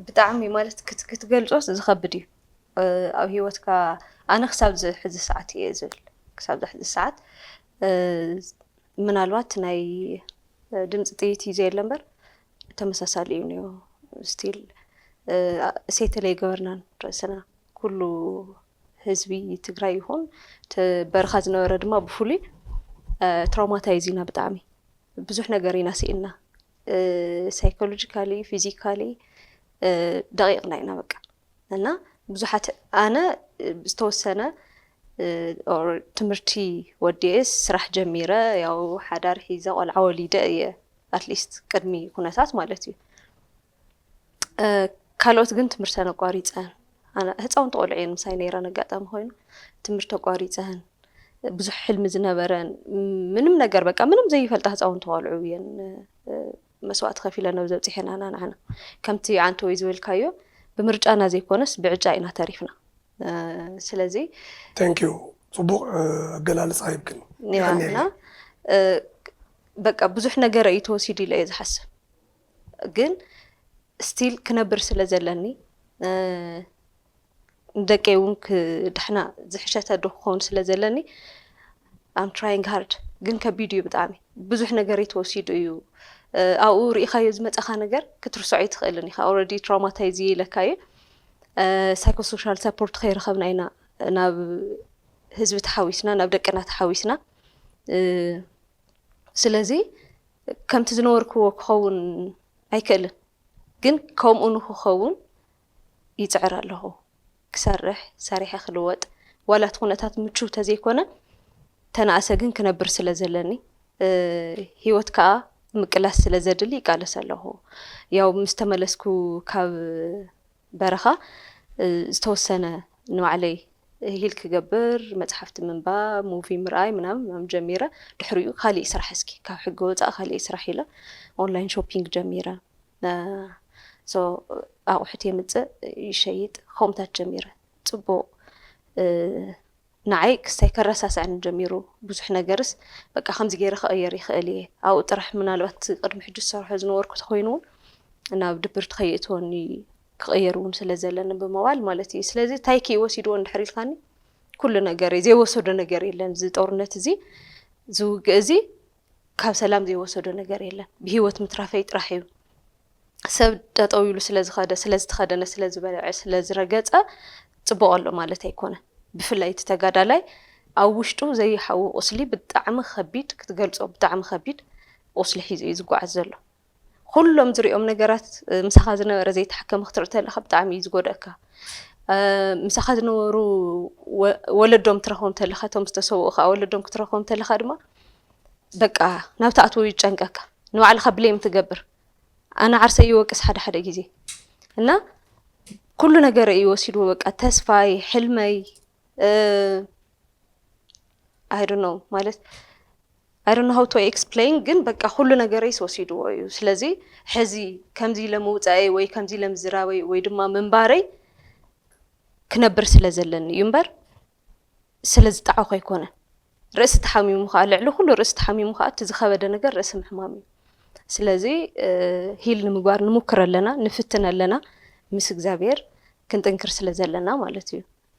ብጣዕሚ ማለት ክትገልፆስ ዝኸብድ እዩ ኣብ ሂወትካ ኣነ ክሳብ እዚ ሕዚ ሰዓት እየ ዝብል ክሳብ እዚ ሕዚ ሰዓት ምናልባት ናይ ድምፂ ጥይት እዩ ዘየለ እምበር ተመሳሳሊ እዩ እኒኦ ስቲል እሴተ ለይገበርናን ርእስና ኩሉ ህዝቢ ትግራይ ይኹን በረኻ ዝነበረ ድማ ብፍሉይ ትራውማታይዝ ኢና ብጣዕሚ ብዙሕ ነገር ኢና ስኢንና ሳይኮሎጂካሊ ፊዚካሊ ደቂቕና ኢና በቃ እና ብዙሓት ኣነ ዝተወሰነ ትምህርቲ ወዲኤስ ስራሕ ጀሚረ ያው ሓዳር ሒዘ ቆልዓ ወሊደ እየ ኣትሊስት ቅድሚ ኩነታት ማለት እዩ ካልኦት ግን ትምህርተን ኣቋሪፀን ህፃውንቲ ቆልዑ እየን ምሳይ ነይረን ኣጋጣሚ ኮይኑ ትምህርቲ ኣቋሪፀን ብዙሕ ሕልሚ ዝነበረን ምንም ነገር በቃ ምንም ዘይፈልጣ ህፃውንቲ ቆልዑ እየን መስዋእቲ ከፊለን ኣብ ዘብፅሐናና ንዓና ከምቲ ዓንተ ወይ ዝበልካዮ ብምርጫና ዘይኮነስ ብዕጫ ኢና ተሪፍና ስለዚ ተንኪዩ ፅቡቅ ኣገላልፃ ይብክን ና በቃ ብዙሕ ነገር እዩ ተወሲዱ ኢለ እየ ዝሓስብ ግን ስቲል ክነብር ስለ ዘለኒ ንደቀይ እውን ክድሕና ዝሕሸተ ኣዶ ክኸውን ስለ ዘለኒ ኣም ትራይንግ ሃርድ ግን ከቢድ እዩ ብጣዕሚ ብዙሕ ነገር ተወሲዱ እዩ ኣብኡ ርኢኻዮ ዝመፀኻ ነገር ክትርሰዖ ኣይትኽእልን ኢኻ ኦልሬዲ ትራውማታይዝ ኢለካ እዩ ሳይኮሶሻል ሰፖርት ከይረኸብና ኢና ናብ ህዝቢ ተሓዊስና ናብ ደቅና ተሓዊስና ስለዚ ከምቲ ዝነበርክዎ ክኸውን ኣይክእልን ግን ከምኡ ንክኸውን ይፅዕር ኣለኹ ክሰርሕ ሰሪሐ ክልወጥ ዋላ እቲ ኩነታት ምቹው ተዘይኮነ ተናእሰ ግን ክነብር ስለ ዘለኒ ሂወት ከዓ ምቅላስ ስለ ዘድሊ ይቃለስ ኣለኹ ያው ምስ ተመለስኩ ካብ በረኻ ዝተወሰነ ንባዕለይ ሂል ክገብር መጽሓፍቲ ምንባብ ሙቪ ምርኣይ ምናምን ምናምን ጀሚረ ድሕሪኡ ካሊእ ስራሕ እስኪ ካብ ሕጊ ወፃእ ካሊእ ስራሕ ኢለ ኦንላይን ሾፒንግ ጀሚረ ሶ ኣቑሑት የምፅእ ይሸይጥ ከምኡታት ጀሚረ ፅቡቕ ንዓይ ክስታይ ከረሳስኣኒ ጀሚሩ ብዙሕ ነገርስ በቃ ከምዚ ገይረ ክቕይር ይኽእል እየ ኣብኡ ጥራሕ ምናልባት ቅድሚ ሕጂ ዝሰርሖ ዝነበርኩ ተኾይኑ ውን ናብ ድብርቲ ከይእትወኒ ክቕይር ውን ስለ ዘለኒ ብምባል ማለት እዩ ስለዚ እንታይ ክዩ ወሲድዎ እንድሕር ኢልካኒ ኩሉ ነገረይ ዘይወሰዶ ነገር የለን እዚ ጦርነት እዚ ዝውግእ እዚ ካብ ሰላም ዘይወሰዶ ነገር የለን ብሂወት ምትራፈይ ጥራሕ እዩ ሰብ ጠጠው ኢሉ ስለ ዝኸደ፣ ስለ ዝተኸደነ፣ ስለ ዝበልዐ፣ ስለ ዝረገፀ ፅቡቕ ኣሎ ማለት ኣይኮነን። ብፍላይ እቲ ተጋዳላይ ኣብ ውሽጡ ዘይሓዊ ቁስሊ ብጣዕሚ ከቢድ ክትገልፆ ብጣዕሚ ከቢድ ቁስሊ ሒዙ እዩ ዝጓዓዝ ዘሎ። ኩሎም ዝሪኦም ነገራት ምሳኻ ዝነበረ ዘይተሓከመ ክትርኢ ተለኻ ብጣዕሚ እዩ ዝጎድኣካ። ምሳኻ ዝነበሩ ወለዶም ትረኽቦም ተለኻ እቶም ዝተሰውኡ ከዓ ወለዶም ክትረኽቦም ተለኻ ድማ በቃ ናብ ትኣትዎ እዩ ዝጨንቀካ ንባዕልካ ብሌም ትገብር ኣነ ዓርሰይ ይወቅስ ሓደ ሓደ ግዜ እና ኩሉ ነገር እዩ ወሲድዎ በቃ ተስፋይ ሕልመይ ኣይዶ ነው ማለት ኣይዶ ነው ሀውቶ ኤክስፕሌን ግን በቃ ኩሉ ነገረይስ ወሲድዎ እዩ ስለዚ ሕዚ ከምዚ ኢለ ምውፃኤይ ወይ ከምዚ ኢለ ምዝራበይ ወይ ድማ ምንባረይ ክነብር ስለ ዘለኒ እዩ እምበር ስለ ዝጠዓኹ ኣይኮነን። ርእሲ ተሓሚሙ ከኣ ልዕሊ ኩሉ ርእሲ ተሓሚሙ ከኣ እቲ ዝኸበደ ነገር ርእሲ ምሕማም እዩ። ስለዚ ሂል ንምግባር ንሙክር ኣለና ንፍትን ኣለና ምስ እግዚኣብሔር ክንጥንክር ስለ ዘለና ማለት እዩ።